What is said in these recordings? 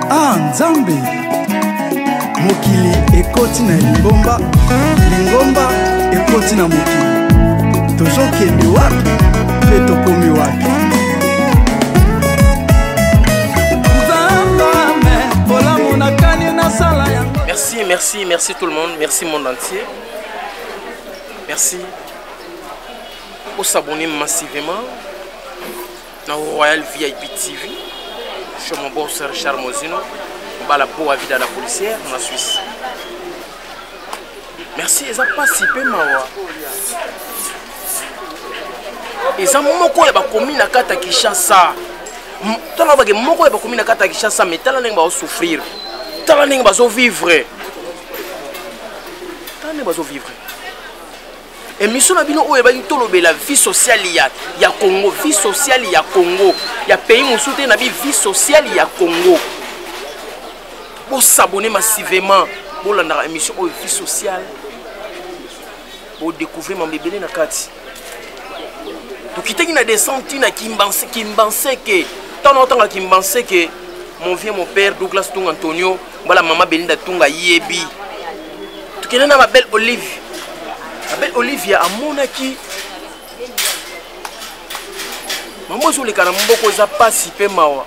ah nzambe mokili ekoti na lingomba lingomba ekoti na mokili tozokende wapi mpe tokomi wapi merci merci merci tout le monde merci monde entier merci osabonne massivement na royal vip tv chez mon bon sœur richard mozino bala boa vida la policière na suisse merci eza mpasi mpe mawa eza moko ya bakomi na kati ya kinshasa tala bake moko ya bakomi na kati ya kinshasa mai tala ndenge bazosouffrir tala ndenge bazovivre tala ndenge bazovivre emission na bino oyo ebaki tolobela vie sociale ya, ya congo vie sociale ya congo ya pays mosusu te na bi vie sociale ya congo bosabone massivement bolandaka émission oyo vie sociale bodécouvrir mambo ebele na kati tokitaki na descente na kimbanseke ntango nakotanga kimbanseke mon vieux mon père douglas tung antonio mbala mama belinda tunga yebi tokende na babelle olive babelle olive ya amonaki mama ozoleka na moboko eza mpasi mpe mawa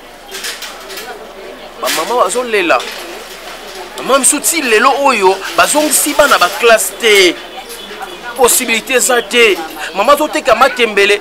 bamama bazolela mama misu ti lelo oyo bazongisi bana baklasse te posibilité eza te mama azoteka matembele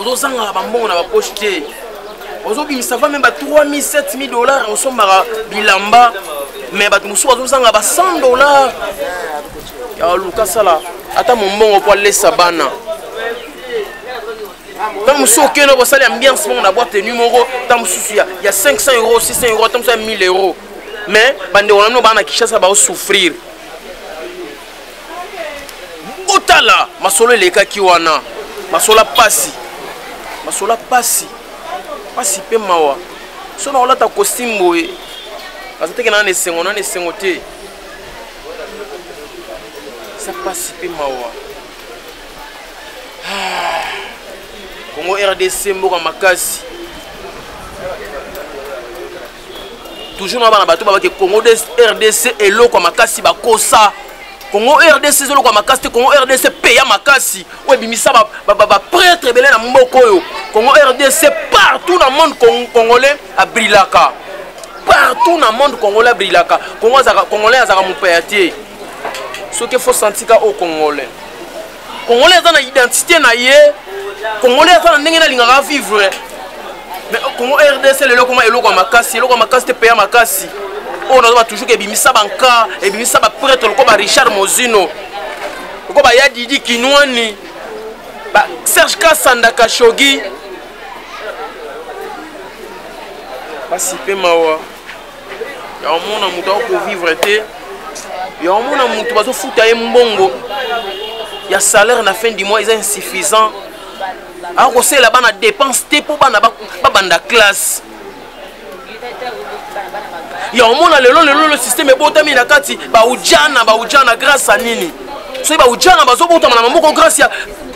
ozozangaka bambongo na bapoche te ozobimisa va meme ba 3000 7000 dollars osombaka bilamba me bato mosusu bazozanga ba 100 dollars ya luka sala ata mombongo mpo alesa bana ntango mosusu okende kosala ambiance moko na bwa tenu moko ntango mosusu ya 500 euro 600 euro ntango mosusu ya 1000 euro mais bandeko na bino baa na kinshasa baosouffrir botala masolo elekaki wana masolo pasi masolo pasi pasi mpe mawa so na kolata costume boye aza teke naa na esengo naa na esengo te eza pasi mpe mawa ah, congo rdc mboka makasi toujours na bana bato babake congo rdc eloko ya makasi bakosa congo rdc eza eloko ya makasi te congo rdc peya makasi oyo ebimisa bapretre ebele na mboka oyo congo rdc partout na monde congolais abrilaka partout na monde congolais abrilaka congolais azalaka mopaya te soki efo santika o congolais Congolais aza na identité na ye. Congolais aza na ndenge na lingaka vivre. Mais au Congo RDC lelo koma eloko ya makasi, eloko ya makasi te peya makasi. Oyo nazoba toujours ke ebimisa banka, ebimisa ba prêtre loko ba Richard Mozino. Loko ba ya Didi Kinwani. Ba Serge Kasanda Kashogi. Basi pe mawa. ya omona moto ako kovivre te ya omona moto bazofuta ye mbongo ya salaire na fin du mois eza insuffisant akosalela bana dépense te mpo bana babanda classe ya omona lelo lelo lelo systeme ebotami na kati baujana baujana grâce a nini soki baujana bazobotama na maboko grâce ya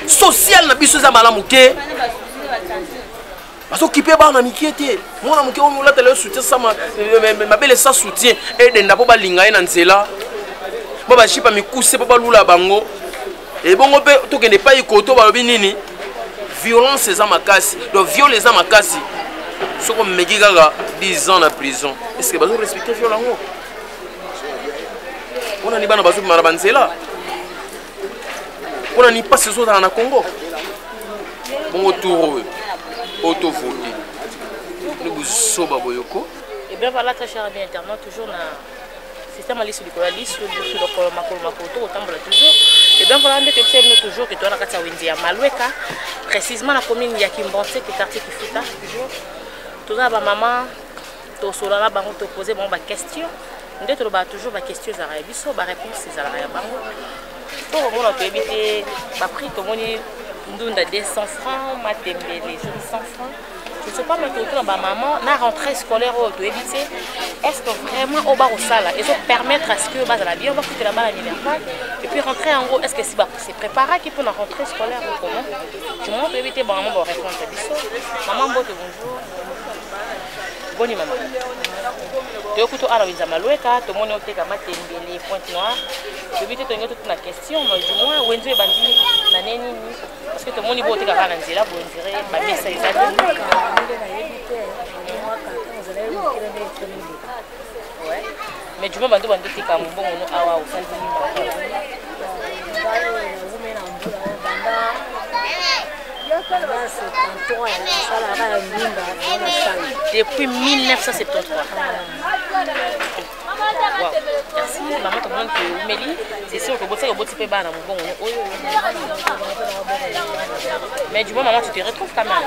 sociale na biso eza malamu te bazokipe bana mikie te mwana moke oyo olatela yo soutien sa mabele sa soutien edenda mpo balinga ye na nzela mpo bajipa mikuse mpo balula bango ebongo mpe tokende epai koto balobi nini violence eza makasi donc viole eza makasi soki omeki kaka 10 ans na prison est ce que bazo respecte viole yango mpo nani bana bazobima na banzela mpo na nini mpasi ezozala na congo bongo tour oyo oyo tovote ni buzoba boyoko ebla balata chara bien internet toujours na système ya lisu likolo ya lisu lisu lokolo makolo makolo to kotambola toujours ebla vala nde toyebisa bino toujours ke toza na kati ya wenze ya malweka précisement na commune ya kimbonse ke quartier kifuta toujours toza na bamama tosolola na bango topose bango baquestion nde tolobaka toujours baquestion ezalaka ya biso baréponse ezalaka ya bango to komona toyebi te baprix tomoni ndunda 200 francs matembele 100 francs je sais pas mais totuna bamaman na rentrée scolaire oyo toyebi te est ce que vraiment oyo bakosala ezo permettre à ce que bazala bien bakutela bana minerval et puis rentrée yango est ce que si se préparaki mpona rentrée scolaire ou comment du moment toyebi te bamaman barépondre biso maman mbote bonjour boni mama toyokuti awa na wenza malweka tomoni oteka matembele pointe noire toyebi te tolingi totuna question mais du moins wenze ebandi na ne nini parce que tomoni bo oteka kaka na nzela bondire bamesa eza te Mais juma bantu bantu tika mbongo no awa osali depuis 1973 wow. merci mama tomoni toumeli sesi okobosaki oboti mpe bana mobongo ne oyo mais du moins mama tu te retrouve quand même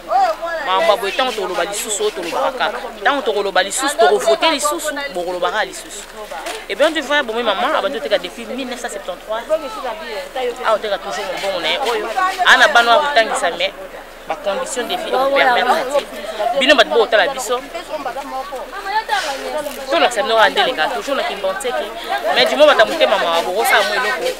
makambo ya boye ntango tokoloba lisusu oyo tolobaka kaka ntango tokoloba lisusu tokovote lisusu bokolobaka kaka lisusu epuis on divoya bomi mama abandi oteka depuis 1973 awa oteka toujours mobongo na ye oyo ana bana oyo akotangisa mais bacondition de vie ekopermettre te bino bato bokotala biso tolakisa bino kaka nde eleka toujours na kimbanseke mais dimo bata motema mawa bokosala mwa eloko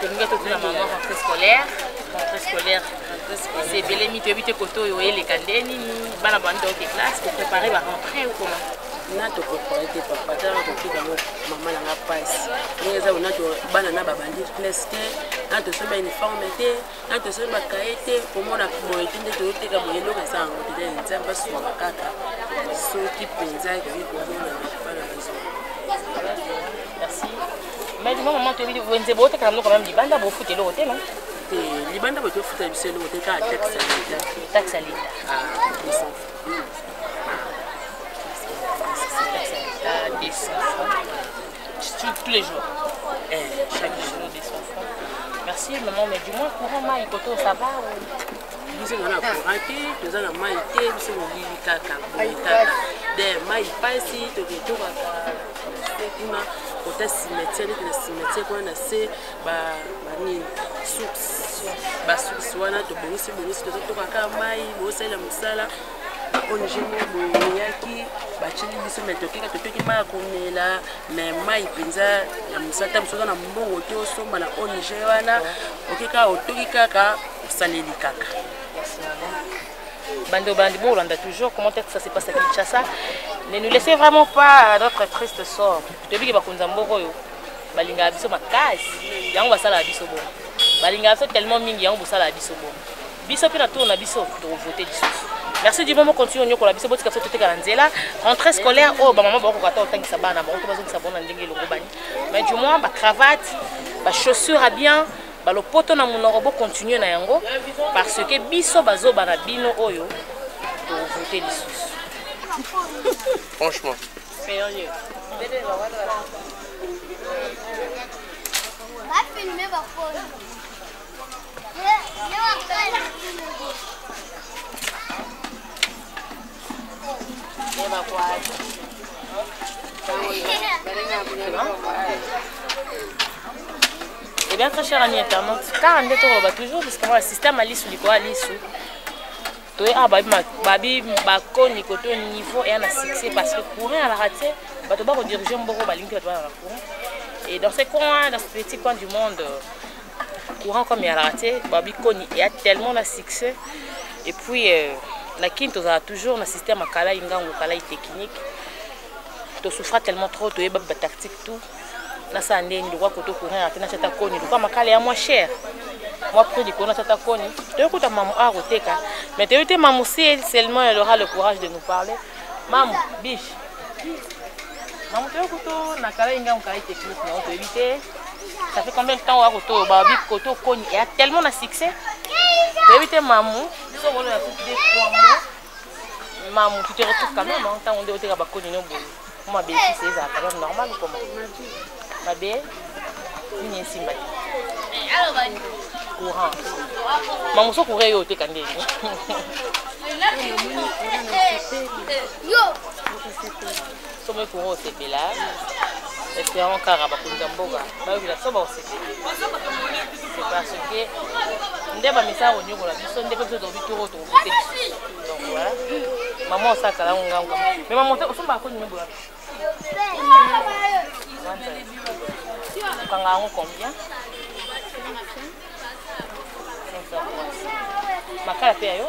tolingi totuna mama rentrée scolaire rentrée scolaire esi ebelemi toyebi te kote oyo oyeleka nde nini bana bando oke classe koprépare barentrée okoma na toprépare te papa tala kotika yango mama na nga mpasi ndenge eza onato bana na babandi classe te na tosomba uniforme te na tosali bakaye te komona boye te nde toyoteka boye eloko eza yango te dai nzambe asunga kaka soki mpenza ekoki komona bana bazo mais mama mama toyebi wenze botekaka biloko mame libanda bofuta eloko te no te libanda boye tofuta biso eloko te kaka taxe ya leta taxe ya leta ah, tous les jours eh, chaque jour de son frère merci maman mais du moins courant mai koto ça va biso nga na courant te toza na mai te biso molili kaka boye kaka de mai mpasi toketokaka kuna kota cimetière neti na cimetière kuna na se banini source basource wana tobongisi bongisi tozotoka kaka mai bosalela mosala ongemo boyaki batyeli biso me tokeka totoki mai ya komela me mai mpenza ya mosata mosu oza na mbongo te osomba na ong wana okeka otoki kaka osaleli kaka bande au bande, bon, a toujours, comment est-ce que ça s'est passé à Kinshasa Ne nous laissez vraiment pas à notre triste sort. Je te dis que Bakunza Mboro, balinga biso makasi, yango basala biso bon. Balinga biso tellement mingi, yango basala biso bon. biso mpe na tour na biso tokovote lisusu merci du moment continue onyokola biso botika biso totekala nzela rentrée scolaire oyo bamama bakokoka ata otangisa bana bango to bazongisa bango na ndenge elongobani mais du moins bacravate bachaussure ya bien balopoto na monoko bocontinue na yango parce que biso bazoba na bino oyo tovote lisusu franchement bafilme baponi Eh bien, très cher ami internaute, car on est toujours, parce que le système à l'issue, à l'issue, toye awa babi bakoni koto niveau eya na succès parce que courant alaka te bato bakodirige mboko balingi bato balaka courant et dans ce coin dans ce petit coin du monde courant comme eyalaka te babi koni eya tellement na succès et puis euh, na kini tozala toujours na système ya kalai ngango kalai technique tosouffra tellement trop toyeba batactique tout nasala nde nini lokola koto courant eyaka te natya ata koni lokola makala ya mwa cher mwa prix likolo natya ata koni toyoki kuta mamu a koteka mais toyebi te mamu si seulement elle aura le courage de nous parler mamu biche mamu toyoki kuto na kalai ngango kalai technique nango toyebi te ça fait combien de temps oya kotoyo babi koto koni eya tellement na succès toyebi te mamu biso bolo ya coupe de trois mois mamu tu te retrouve quand même ntango nde oteka bakoni no boye po mabe ekisi ezala quand même normal koma mabe nini esimba te courant mamu so courant eyo oteka ndenge yo somo ekonga osepela espérant kaka bakonzi ya mboka bayokela so baosepela parce que nde bamisala konyokola biso nde mpe biso tokobi toko tokobote biso donc voilà mama osakala ngo ngango mais mama osomba akoni mebola okanga yango combien makala mpe ya yo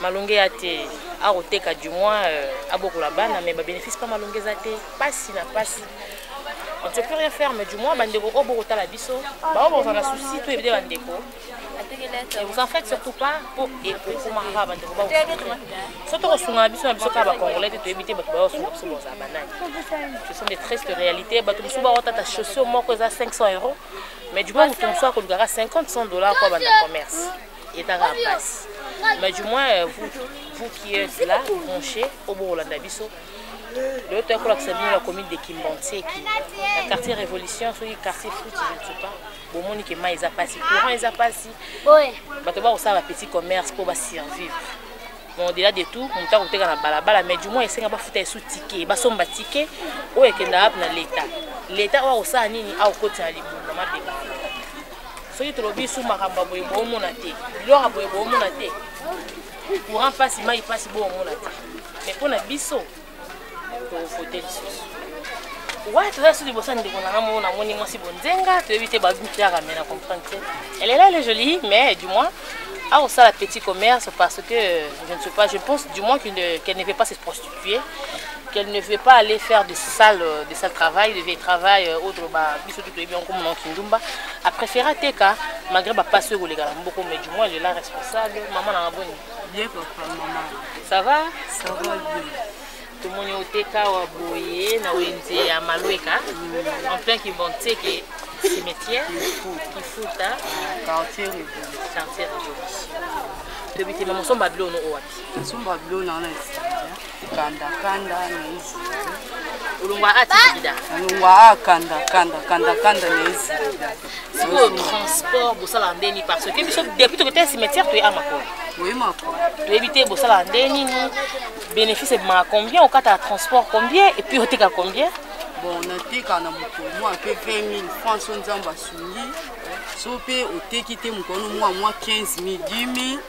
malonge ya te akoteka du moins euh, abokola bana mais babénéfice mpa malonge eza te mpasi na mpasi on ne peut plus rien faire mais du moins bandeko oyo bokotala biso baoyo bozala na souci to ebide bandeko Et vous en faites surtout pas pour ekokomaka bandeko ba so tokosunga na biso na biso kaka bacongolais te toyebi te bato baosunga biso bozala banani ce sont des tristes réalités bato mosusu baotata chaussure moko eza 500 euros mais du moins moto mosusu akolukaka 50 100 dollars mpo abanda commerce etaka mpasi mais du moins euh, vous, vous qui êtes là branché obokolanda biso lelo toyaki kolakisa bino la commune de kimbantieki na quartier révolution soki quartier fruit je ne sais pas bomoni ke mai eza mpasi courant eza mpasi bato bakosala ba petit commerce mpo basurvivre bon au-delà de tout moto akoteka na balabala mais du moins esenga bafuta esu tike basomba tike oyo ekendaka mpe na leta leta oyo akosala nini akokotina libulu na mabeka soki tolobi su makambo ya boye boomona te biloko ya boye boomona te courant mpasi mai mpasi boomona te me mpo na biso tokokote lisusu wana toza su liboso ya ndeko nanga moko namoni mwasi bonzenga toyebi te babutaka me na comprendre te elle est là elle est jolie mais du moins akosala petit commerce parce que je ne sais pas je pense du moins qu'elle ne peut pas se prostituer vie qu'elle ne veut pas aller faire des salles euh, des salles travail des vieilles travail euh, autre ba biso tout bien comme mon kindumba a préféré teka malgré ba passe au légal beaucoup mais du moins elle est la responsable maman na bonne bien papa maman ça va ça va bien tomoni oteka wa boye na wenze ya malweka mm. en plein kibonteke cimetière kifuta quartier révolution quartier révolution toyebi te mama osomba biloko no owapi nasomba bilo na wana kanda kanda na izi olongwa a tibida olongwa a kanda kanda kanda kanda na izi sikoyo transport bosalaka nde nini parce que biso depuis tokete cimetière toye a makolo oye makolo toyebi te bosalaka nde nini bénéfice ebimaka combien okataka transport combien et puis oteka combien bon nateka na mokolo mwa mpe 20 000 franc so nzambe asungi so mpe oteki te mokolo mwa mwa 15 000 10 000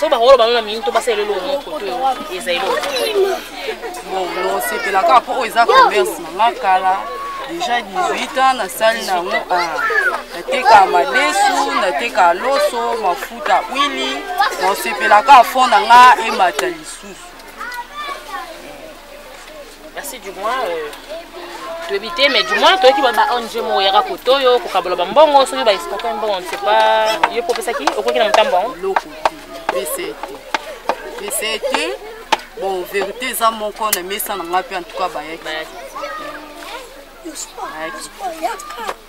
so bakolo bango na mingi to basala eloko moko to eza eloko nosepela kaka mpo oyo eza commerce nanga kala déjà 18 ans nasali nango ah, nateka madesu nateka loso mafuta wili nosepela kaka fond na nga emata lisusu merci du moins euh, toyebi te mais du moins toyoki ba ong moko yaka kote oyo kokabola bambongo soki baexporte mbongo ne sais pas yo mpo opesaki okoki na motambo yango eloko pese te pese te bon verité eza moko na mesa na ngai mpe en tout cas bayaki bayaki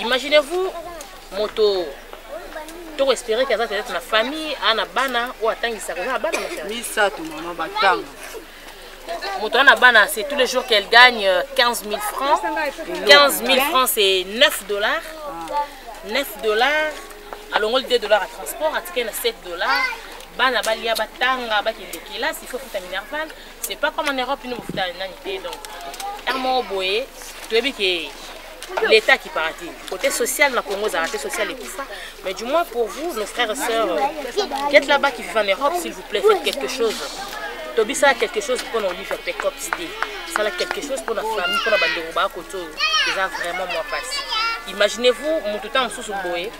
imaginez-vous moto toko espere ke aza peut-être na famille aa na bana oyo atangisaka oza na bana misato mama batanga moto wana na bana c'est tous les jours qu'elle gagne 15 euh, 000 francs 15 000 francs c'est 9 dollars 9 ah. dollars alongoli 2 dollars ya transport atikali na 7 dollars bana balia batanga bakende kelasi ifo futa minerval c'est pas comme en europe bino bofuta nani te donc ntango moko boye toyebi ke l'état qui paraît côté social na congo ezalaka te social ekufa mais du moins pour vous nos frères et sœurs qui êtes là-bas qui vivent en europe s'il vous plaît faites quelque chose tobisala quelque chose mpo na olive pecops te sala quelque chose mpo na famille mpo na bandeko baa kote oyo eza vraiment mwa mpasi imaginez vous motu ntango mosusu boye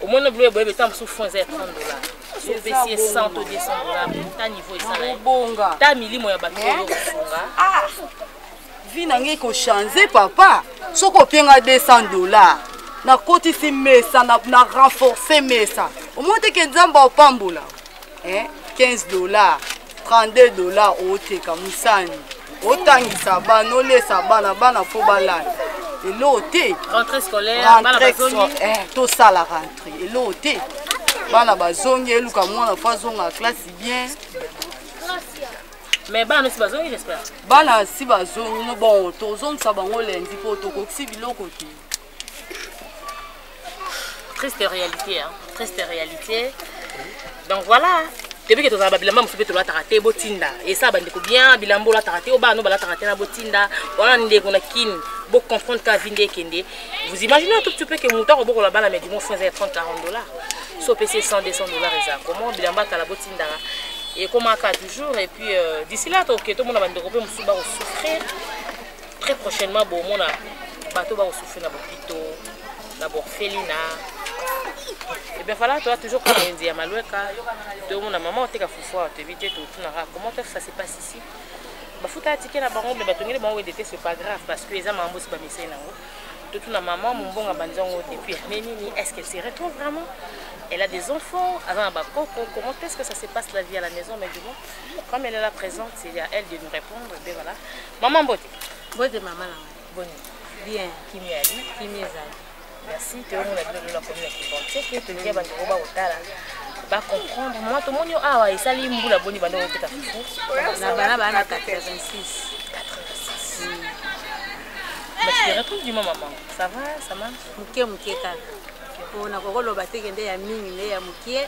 omoni biloko boye ntango mosusu fond eza ya 30 dollars sopesi ye 100 to 200 dollars ta niveau esala ye obonga ta milimo ya bato oyo kosunga ah! vie na ngai kochange papa soki opie ngai 200 dollars nakotisi mesa na, na renforce mesa omoni te ke nzambe apambola eh? 15 dollars 32 dollars oteka mosani otangisa bana olesa bana bana fo balata eloo te eh, tosala rentre eloo te bana bazongi eluka mwana fo azonga classe bien mais bana si bazongi j'espère bana si bazongi no bon tozongisa bango lendi mpo tokokisi biloko te triste réalité hein. triste réalité donc voilà toyebi ke tozala babilamba mosusu mpe tolataka te botinda esala bandeko bien bilamba olataka te obana no balataka te na botinda wana ndeko na kin bocomprendre ka vi nde ekende vous imaginez un tout petit peu ke moto akobokola bana mais du moins fo eza ya 30 40 dollars so opesi 100 200 dollars eza comment bilamba kala botindaka ekomaka toujours et puis euh, d'ici là toke tomona bandeko mpe mosusu bakosouffrir très prochainement bomona bato bakosufri na bopito na borfelina ebien eh fala toa toujours kaka wenze ya malweka tomona mama oteka fufu awa toyebi te totunaka comment ça se passe ici bafutaka tike na bango me batongeli bango wende te c'est pas grave parce que eza makambo osi bamisai nango totuna mama mombonga banzango depuis année nini est ce qu'elle se retrouve vraiment elle a des enfants aza na bakoko comment est ce que ça se passe la vie à la maison mais du moins comme elle est là présente c'est à elle de nous répondre ben voilà Maman Bote. Bote maman na ngai. Boni. Bien. Kimia ali. Kimia ezali. Merci. Toyomona bino lola komi na kibonte ke tolingi ya bandeko bakotala bacomprendre mama tomoni yo awa esali mbula boni banda okoteka fufu na bana bana 86 Mais tu te retrouves du moment, maman. Ça va, ça marche Mukie, mukie, kaka. Mpo nakokoloba te kende ya mingi nde ya mukie.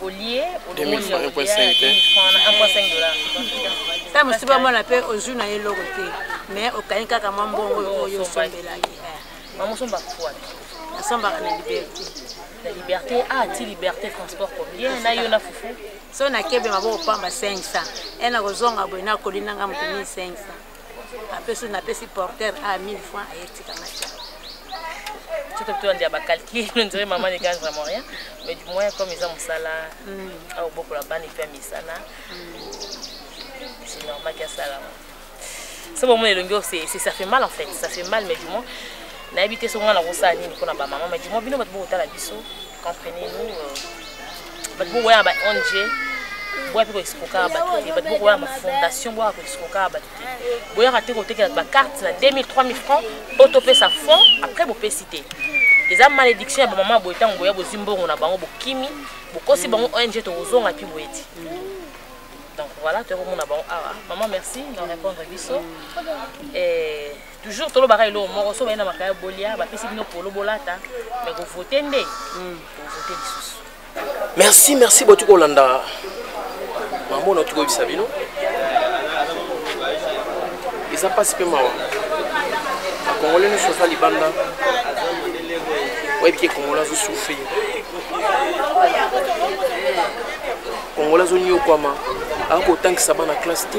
olie olomoni ya olia ya 2000 francs na 1.5 dollars ntango mosusu bamona mpe ozwi na ye eloko te mais okangi kaka mwa mbongo oyo osombelaki bango osomba kufuana nasombaka na liberté na liberté ah ti liberté transport combien na yo na fufu so nakebe maboko pamba 500 e nakozonga boye nakoli nanga moto 1500 apesi napesi porter a 1000 franc ayetika matia soki tobi toyande ya bacalcule ondire mama ne gagne vraiment rien mais du moins comme eza mosala aobokola bana epe ya misana c'est normal ke asalama so bomona elongi oyo ça fait mal en fait ça fait mal mais du moins nayebi te so ngai nakosala nini mpo na bamama mais du moins bino bato bokotala biso comprenez nous euh, bato bokoya na ba ong boya mpe koexpokaka bato te bato bokoya na bafondation boyaka koexpokaka bato te boyaka te kotekela bacarte na 2000 3000 francs mpo topesa fond après bopesi te eza malédiction ya bamama boye ntango boya bozwi mbongo na bango bokimi bokosi bango ong tokozonga mpe boye ti donc voilà tokomona bango awa ah, ah, maman merci na répondre biso toujours tolobaka eloko moko so baye na makaya bolia bapesi bino polo bolata me kovote nde hmm. kovote lisusu merci merci botuki kolanda mamona otuki koyebisa bino eza mpasi mpe mawa bakongole nyonso aza libanda oyebi ke kongola azosufri kongola azoniokwama akotangisa bana classe te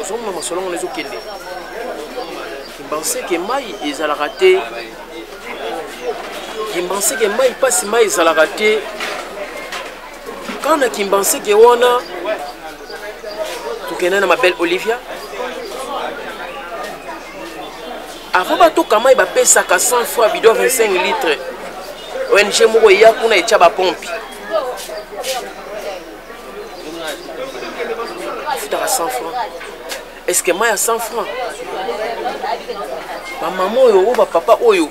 ozomona masolo yango ezokende kimbanseke mai ezalaka te kimbanseke mai mpasi mai ezalaka te kana kimbanseke wana tokenda na mabele olivia avant batoka mai bapesaka 100 fois bido 25 litre ong moko eya kuna etya bapompi afutaka 100 franc eske mai ya 100 franc bamama oyo oyo bapapa oyo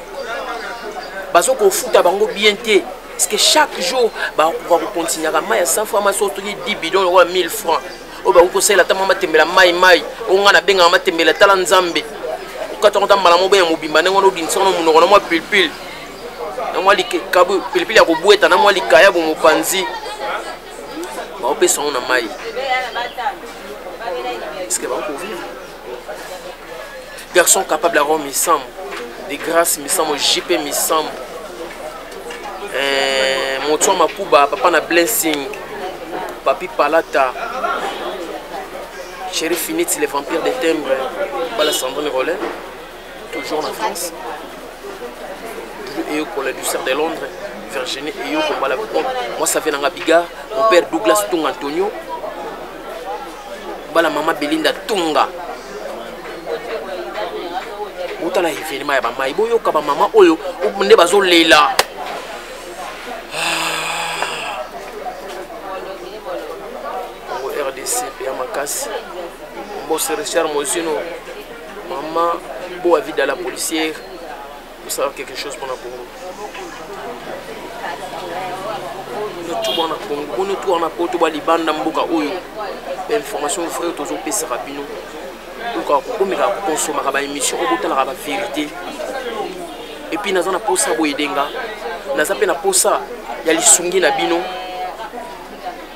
bazo kofuta bango bien te parce que chaque jour bakoka kokontinyaka mai ya 100 franc masi otoki 10 bidon lokola 1000 franc oyo bakoki kosalela ata mwa matembela mai mai oyo ngai nabengaka matembela tala nzambe okataka ota mbala moko ya mobimba ndenge wana obimisa wana monoko na mwa pilpile na mwa likabu pilipili ya kobweta na mwa likayabu mopanzi baopesa yango na mai eske bakovivre garçon capable yango misambo de grâce misambo jp misambo eh, moto ya makuba papa na blessing papi palata chéri finiti le vampire de timbre bala sandrine rolin Toujours en France. Et pour la douceur de Londres, Virginie et yo, pour la Moi, ça fait dans Biga, mon père Douglas Tung Antonio. Bala maman Belinda Tunga. botala evenema ya bamai boyoka bamama oyo nde bazolela rdc mpe ya makasi mbose richard mozino Maman, beau avis de la policière, pour savoir quelque chose pour la Congo. Tout bon na Congo, bon tout en apoto, ba libanda mboka oyo. Information frère tozo pesa rabino. Oka ko komeka ko consommer ba émission, obotala ba vérité. Et puis naza na posa boyedenga. Naza pe na posa ya lisungi na bino.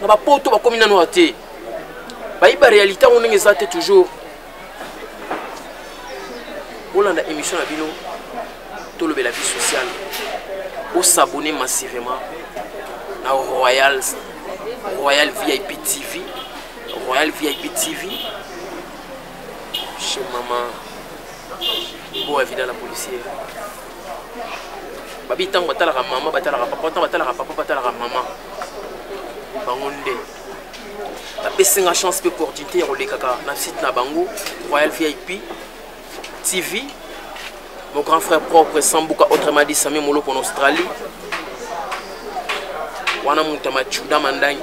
na bapoto bakomi nano ya te bayiba réalité yango ndenge eza te toujours bolanda émission na bino tolobela vie sociale osabone massivement na royal royal vip tv royal vip tv chez maman boa vida la policière babi ntango batalaka mama batalaka papa ntango batalaka papa batalaka mama bango nde bapesi nga chance mpe opportunité ya kolekaka na site na bango royal vip tv mon grand frère propre sambuka autrement dit sami moloko na australie wana moto ya machuda mandangi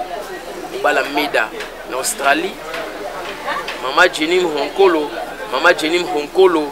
obala meda na australie mama jenim honkolo mama jenim honkolo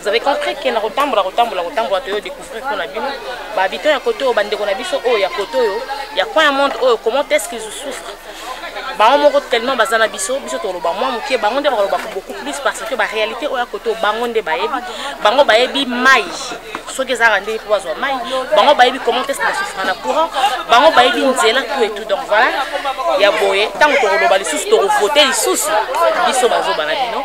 Vous avez compris que na kotambola kotambola kotambola toyo découvrir mpo na bino ba habitants ya kote oyo bandeko na biso oyo ya kote oyo ya coin ya monde oyo comment est-ce qu'ils souffrent bango moko tellement baza na biso biso toloba mwa moke bango nde bakoloba beaucoup plus parce que baréalité oyo ya kote oyo bango nde bayebi bango bayebi mai soki ezalaka ndenge mpo bazwa mai bango bayebi comment est-ce basouffra na courant bango bayebi nzela tout et tout donc voilà ya boye ntango tokoloba lisusu tokovote lisusu biso bazoba na bino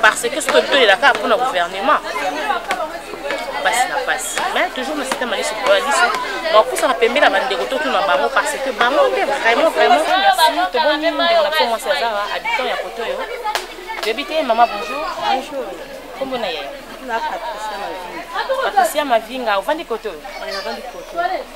parce que soki totolela kaka mpona gouvernement basi na basi mais toujours na système aliso boya liso bakosaka pembe na bandeko totuna bango parce que bango nde vraiment vraiment merci toboni ndeko na biso mwasi azawa habitant ya koto oyo toyebi te mama bonjour bonjour kombo na yaya patricia mavinga ovandi koto oyo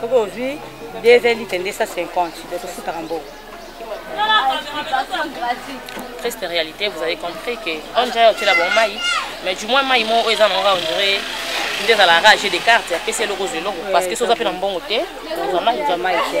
soki ozwi 2 litre nde 150 okosutaka mbongo triste réalité vous avez compris que on dirait otela bango mai mais du moins mai moko oyo eza nango on dirait nde ezala rage de carte apesi eloko ozwa eloko parce que so oza mpe na mbongo te ozwa mai ozwa mai te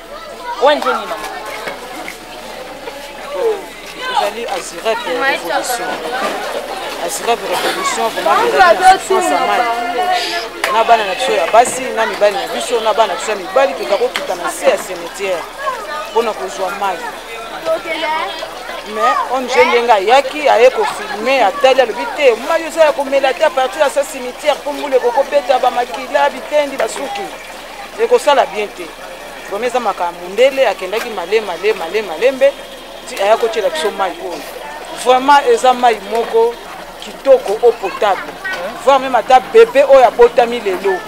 ONG nini mama? Ezali Azirep Revolution. Azirep Revolution vraiment ezali na souffrance ya mai na bana na biso ya basi na mibali na biso na bana na biso ya mibali keka kokita na se ya cimetière mpo na kozwa mai mais ong ndenge ayaki aye kofilme atali alobi te mai oza ya komela te apartir ya sa cimetière mpo mbula ekokobeta bamakila bitendi basuki ekosala bien te vraimen eza makaa mundele akendaki male male male malembe ti aya kotyela biso mai oyo vraiment eza mai moko kitoko eau potable voir meme ata bebe oyo abotami lelo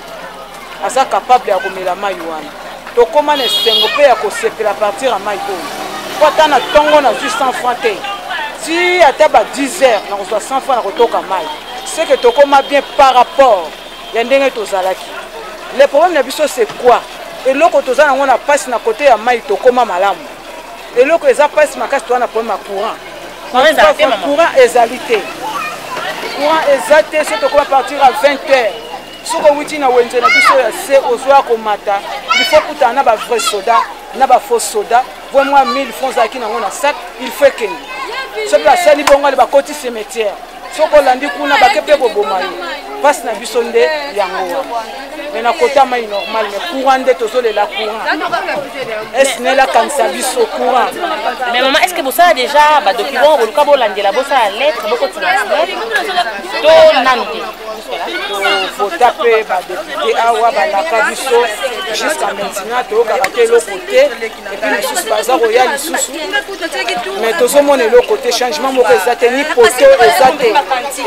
aza kapable ya komela mai wana tokóma na esengo mpe ya kosepela partir ya mai oyo mpo ata na ntongo nazwi 100 franc te ti ata ba 10 heures nakozwa 100 franc na kotoka mai seke tokóma bien par rapport ya ndenge tozalaki le problème na biso c'est quoi eloko toza nango na mpasi na kote ya mai tokoma malamu eloko eza mpasi makasi toza na problème ya courant courant ezali te courant eza te so tokoma partir ya 20 heures soki owuti na wenze na biso ya se ozwa komata il faut kutana na ba vrai soda na ba faux soda po mwa 1000 francs azalaki nango na sac il faut ekende soki asali bongo ale bakoti cimetière soki olandi kuna bake mpe koboma yo mpasi na biso nde yango wana me na kota mai normal me courant nde tozolela courant esnel akanisa biso courant mais mama est ce que bosala déjà badocument boluka bolandela bosala lettre bokotina snel to nanu te vota mpe badepute awa balaka biso jusqu'à maintenant toyokaka te eloko te epuis mosusu baza koya lisusu mais tozomona eloko te changement moko eza te ni poto eza te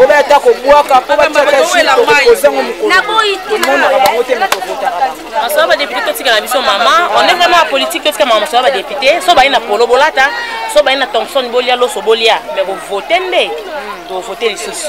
obeya ata kobwaka mpo batiaka zikozango mokolomonaka bango te mekokotaka bangomasoa badepute totikala biso mama on est vraiment ya politique totika mama masoa badepute so baye na polo bolata so baye na thomson bolia loso bolia mais kovote nde tovote lisusu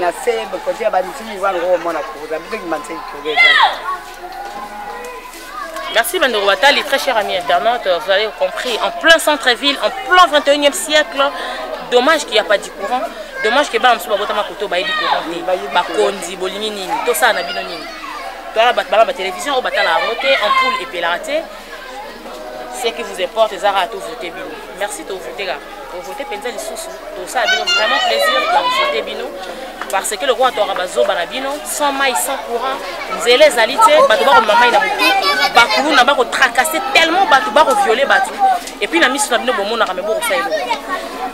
na se kotia banzini wana komona kuza bilingi manse kugeza Merci Bandoro Batali, très cher ami internaute, vous avez compris, en plein centre-ville, en plein 21e siècle, dommage qu'il n'y a pas du courant, dommage que bana mosusu babotama koto bayebi courant te bakonzi bolingi nini tosala na bino nini toyala bato bana batelevision oyo batala yango te ampoule epelaka te ce qui vous importe eza kaka tovote bino merci tovote kaka tovote mpenza lisusu tosala bino vraiment plaisir ya kovote bino parce que lokola toyaka bazoba na bino sans mai sans courant nzela ezali te bato bakomema mai na motu bakuluna bakotracase tellement bato bakoviole bato epuis na miso na bino bomonaka me bokosala eloko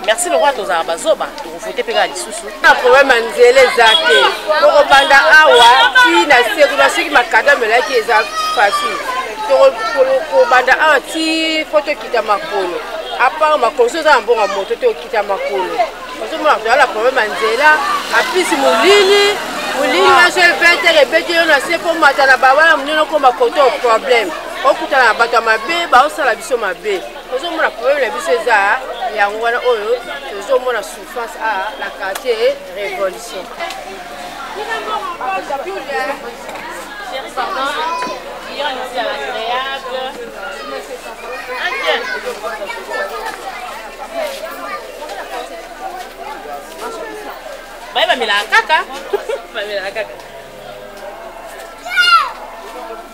merci lokola tozalaka bazoba vote mpe kaka lisusu na problème ya nzela eza te tokobanda awa ti na se kuna soki makada melaki eza facile tokobanda awa ti fo tokita makolo apart makolo so eza na mbongo ya moto te okita makolo ozomona toza na problème ya nzela apisi molili molili nyonso ebetere ebeti yo na se mpo mata na babala monene okoma koto problème okutana na bato ya mabe baosala biso mabe ozomona problème na biso eza yango wana oyo tozomona souffrance a ah, na quartier révolution baye bamelaka kaka bamelaka kaka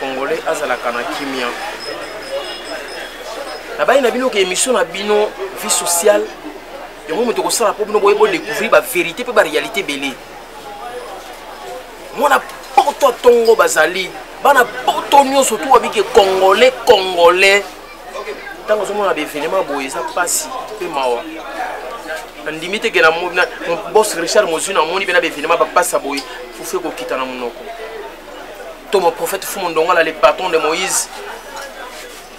congolais azalaka na kimia nabayi na bino ke émission na bino vie sociale yango moto ekosala mpo bino boye bodécouvrir baverité mpe baréalité ebele mwana poto ntongo bazali bana poto nyonso tu wabike congolais congolais ntango ozomona baevenema boye eza mpasi mpe mawa nandimi te ke na bos richard mozwi namoni mpe na baevenema bapasa boye fufu ekokita na monoko to mon prophète fumu ndongala le patron de moïse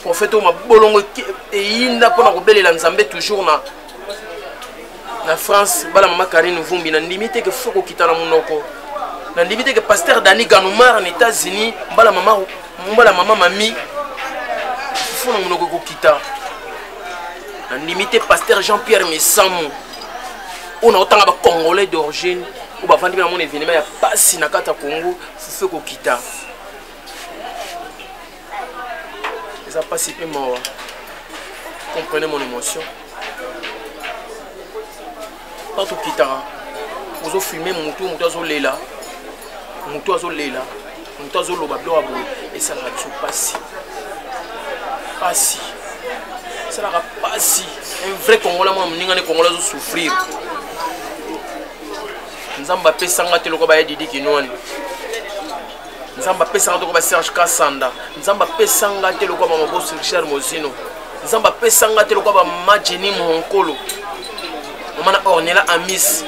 prophète oyo mabolongo eyinda mpo na kobelela nzambe toujours na na france bala mama karine vumbi nandimi te ke fo kokita na monoko nandimi te ke paster dani ganomar na états-unis mbala mama mbala mama mami fo na monoko ekokita nandimi te paster jean pierre misamu oyo naotanga bacongolais d'origine oyo bavandi mpe namona evenema ya mpasi na kati ya kongo fufu ekokita eza mpasi mpe mawa comprenez mon émotion ntango tokitaka ozofilme motu motu azolela motu azolela moto azoloba biloko ya boye esalaka biso mpasi mpasi esalaka mpasi un vrai congolais mwana moninga nde congolais azosouffrir nzambe apesanga te lokola baya didi kinwani nzambe apesanga te lokola baserge kasanda nzambe apesanga te lokola bamabosi richard mozino nzambe apesanga te lokola bamajeni mohonkolo mama na ornela amis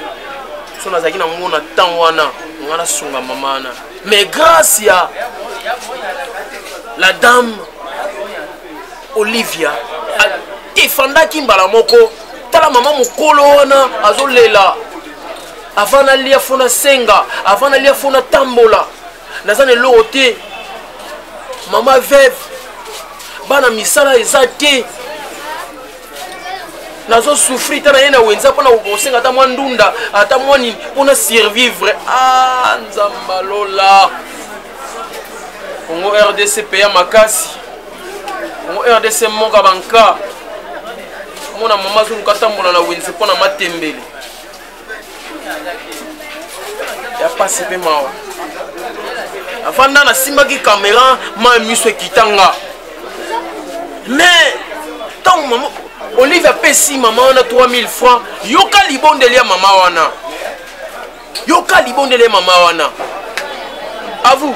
so nazalaki na ngo na ntango wana nga nasunga mama wana mais grâce ya la dame olivia efandaki mbala moko tala mama mokolo wana azolela avant nalia fo nasenga avant nalia fo natambola naza na eloko te mama veve bana misala eza te nazo souffrir ta naye na wenza mpona kosenga ata mwa ndunda ata mwa nini mpona survivre ah nzamba lola congo rdc peya makasi congo rdc moka banka omona mama azoluka atambola na wenze mpona matembele ya pasi mpe mawa afanda nasimbaki kamera mai miso ekita nga mais ntango mama olive apesi mama wana 3000 francs yoka libondeli ya mama wana yoka libondeli ya mama wana à vous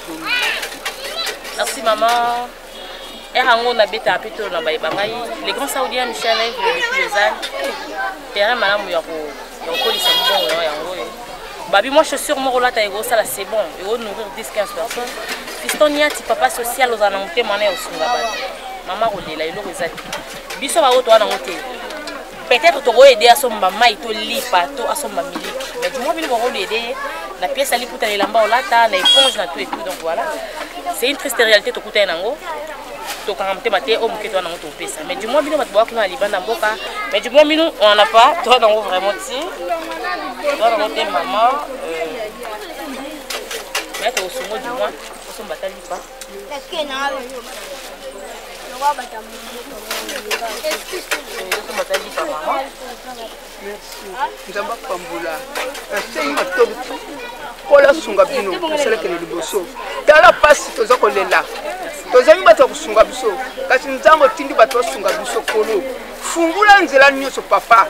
merci maman ere yango nabetaka mpe tolo na bayeba ngai le grand saudien michel evre depuis lausanne terrain malamu ya kokolisa mbongo yango yango oyo babi mwa chaussure moko olata ekosala c'est bon eko nourrir 10 15 personnes fiston niati papa social ozala na motema na ya osunga bato mama kolela eloko eza te biso baoyo towana yango te peut-être toko aider asomba mai to lipa to asomba miliki mais du moins bino boko aider ye na pièce ya liputa na elamba olata na éponge na tout et tout donc voilà c'est une triste réalité tokuta ye nango tokanga motema te oyo moke toa nango topesa mais du moins bino bato boa kuna na libanda mboka mais du moins bino wana pa toa nango vraiment ti toa nango te mama euh, mais tokosongo du moins osomba ta lipa nzambe apambola nasengi matobi nkolo asunga bino asalakele liboso tala mpasi toza kolela tozangi bato ya kosunga biso kasi nzambe otindi bato basunga biso kolo fungula nzela nyonso papa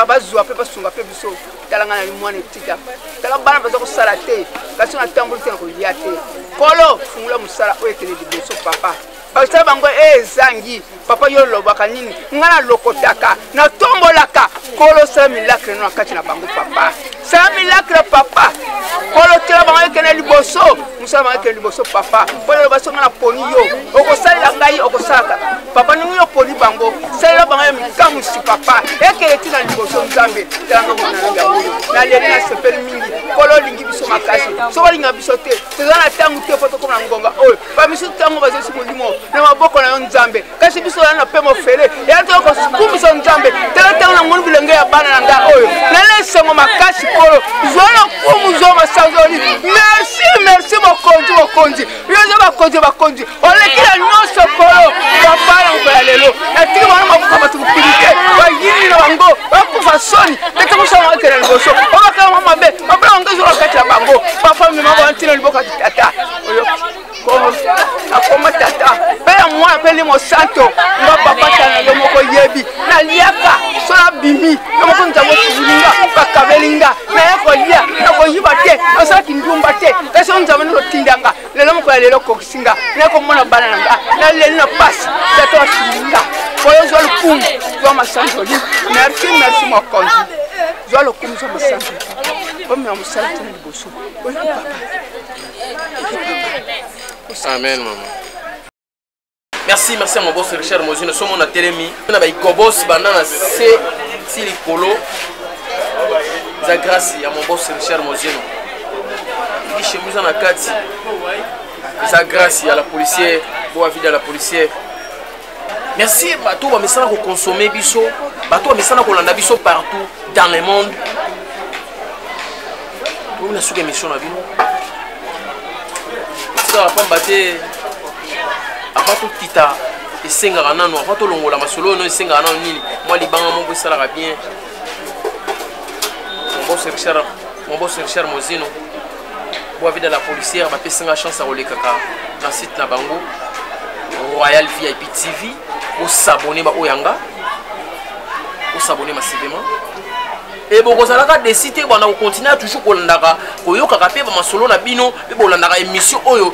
bazwa mpe basunga mpe biso tala ngai nali mwana etika tala bana baza kosala te kasi natamboli te na kolia te kolo fungula mosala oyo ekende liboso papa basala bango eh, ezangi papa yo olobaka nini ngai nalokotaka natombolaka kolo sala milakre no na kati na bango papa sala milakre papa kolo tela bango ekende liboso mosala bango ekende liboso papa mpo naloba so ngai naponi yo okosalela ngai okosalaka papa ndenge yo oponi bango salela bango ya mikamusi papa ekele ti na liboso nzambe talanga mwana na yango oyo naleli nasepeli mingi kolo olingi biso makasi soki olinga biso te toza na ntango te mpo tokoma na ngonga oyo bamisusu ntango bazosi molimo na maboko na yo nzambe kasi biso ozali na mpe mofele eya toyo kokumisa nzambe tala ntango na moni bilenge ya bana na ngai oyo nala esengo makasi kolo zwa lokumu zwa masanzoli merci merci mokonzi mokonzi bilozo bakonzi bakonzi oleki na nyonso kolo papa na mokolo ya lelo natiki bango makufa bato mokili te bayini na bango bakufa soni ndete mosala bakenda liboso babaka yango mabe mabe yango ezwa bakati na bango bafami mabo bantina liboka tata oyo akoma tata mpe ya mwana mpe limo santo nga papa tana yo moko yebi naliaka so nabimi yo moko nzambo tulinga bakabeli nga naye kolia nakoyiba te nasala kindumba te kasi o nzambe nalotinda nga lelo moko ya lelo okokisi nga naye komona bana na nga naleli na pasi tata wasungi nga oyo zwa lokumu zwa masanzoli merci merci mokonzi zwa lokumu zwa masanzoli omema mosala tena liboso oyo papa amen mama merci merci ya moboso richard mozino somo na telemi na baikobos banda na se ti likolo eza grâce ya moboso richard mozino eki chemise eza na kati eza grâce ya la policière boa vida la policière merci bato bamesana kokonsome biso bato bamesana kolanda biso partout dans le monde oyo na suka émission na bino tikala pamba te avant tokita esengaka nano avant tolongola masolo oyo no esengaka nano nini mwa libanga moko esalaka bien mobos richard mozino boavida la policière bapesi nga chance ya kolekaka na site na bango royal vip tv bosabone baoyo ya nga bosabone masivema e bokozalaka desi te bana kokontinue toujours kolandaka koyokaka mpe bamasolo na bino mpe bolandaka émission oyo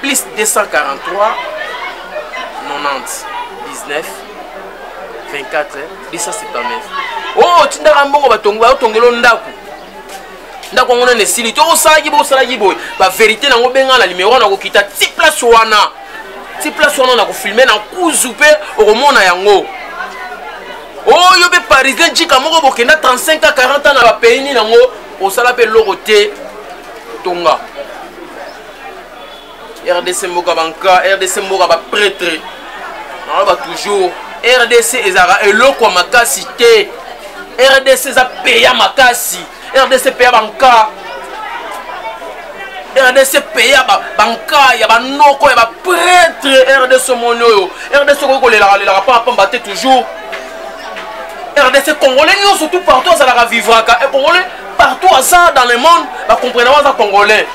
plus 243 90 19 24 279 oyo otindaka mbongo batongi baotongelo ndako ndako yango nani esili to osalaki boye osalaki boye baverité nango benga na limero nakokita ti place wana ti place wana nakofilme na kuzu mpe okomona yango oyo mpe parisien jika moko bokenda 35 a 40 ans na bapays nini yango osala mpe eloko te tonga rdc mboka banka rdc mboka bapretre naloba toujours rdc ezalaka eloko ya makasi te rdc eza peya makasi rdc peya banka rdc peya banka ya banoko ya bapretre rdc omoni oyo rdc okoki kolelaka lelaka mpo apamba te toujours rdc congolais nyonso tout partout azalaka vivraka eh, congolais partout aza dans le monde bakomprena aza congolais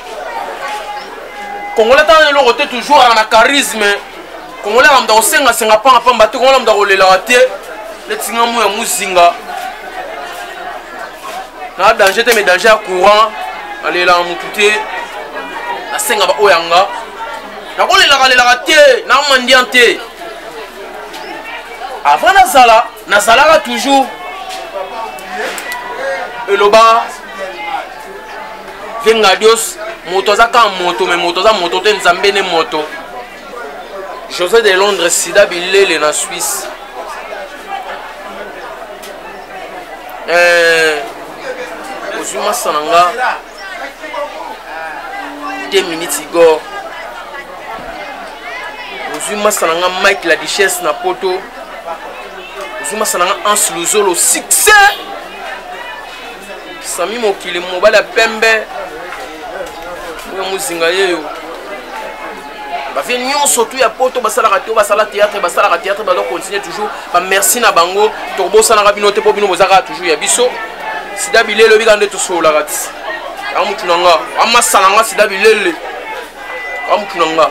congolais tana eloko te toujours aka na charisme congolais aka muta kosengasenga pangapamba te congolais muta kolelaka te neti nga moya mozinga na danger te mais danger ya courant nalelaka motu te nasenga baoyo yanga nakolelaka lelaka te na mandian te avant nazala nazalaka toujours eloba vengadios moto aza kaka moto me moto aza moto te nzambe ne moto josé de londres sida bilele na suisse eh, ozwi masa na nga te minutes igor ozwi masa na nga mike la duchesse na poto zuma salanga ans luzolo succès sami mokili mobali ya pembe oyo mozinga yeyo bavie nyonso tu ya poto basalaka te basala théâtre basalaka théâtre bazo continue toujours bamerci na bango tokobosanaka bino te mpo bino bozalaka toujours ya biso sida bilele obika nde tosololaka ti yango motu na nga amasala nga sida bilele yango motu na nga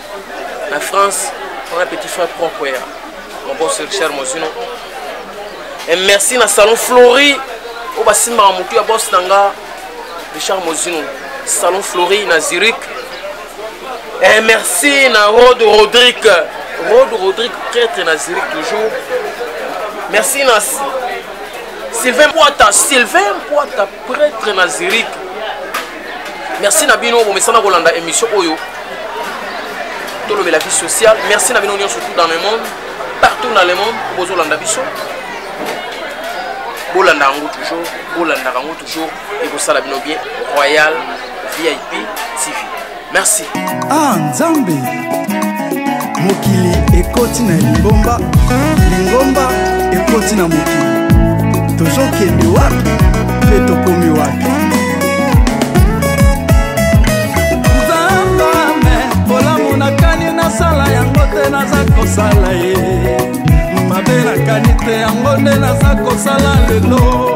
na France on a petit frère propre ya mon boss Richard Mozino et merci na salon Flori oyo basimbaka motu ya boss na nga Richard Mozino salon Flori na Zurich et merci na Rod Rodrigue Rod Rodrigue prêtre na Zurich toujours merci na Sylvain Poita Sylvain Poita Pretre na Zurich. Merci na bino bomesana kolanda émission oyo. Tolobela vie sociale. Merci na bino nyonso tout dans le monde, partout dans le monde bozolanda biso. Bolanda yango toujours, bolanda yango toujours ekosala bino bien. Royal VIP TV. merci ah nzambe mokili ekoti na lingomba lingomba ekoti na mokili tozokende wapi mpe tokomi wapi nzambame bolamu nakani nasala yango te naza kosala ye mabe nakani te yango nde naza kosala lelo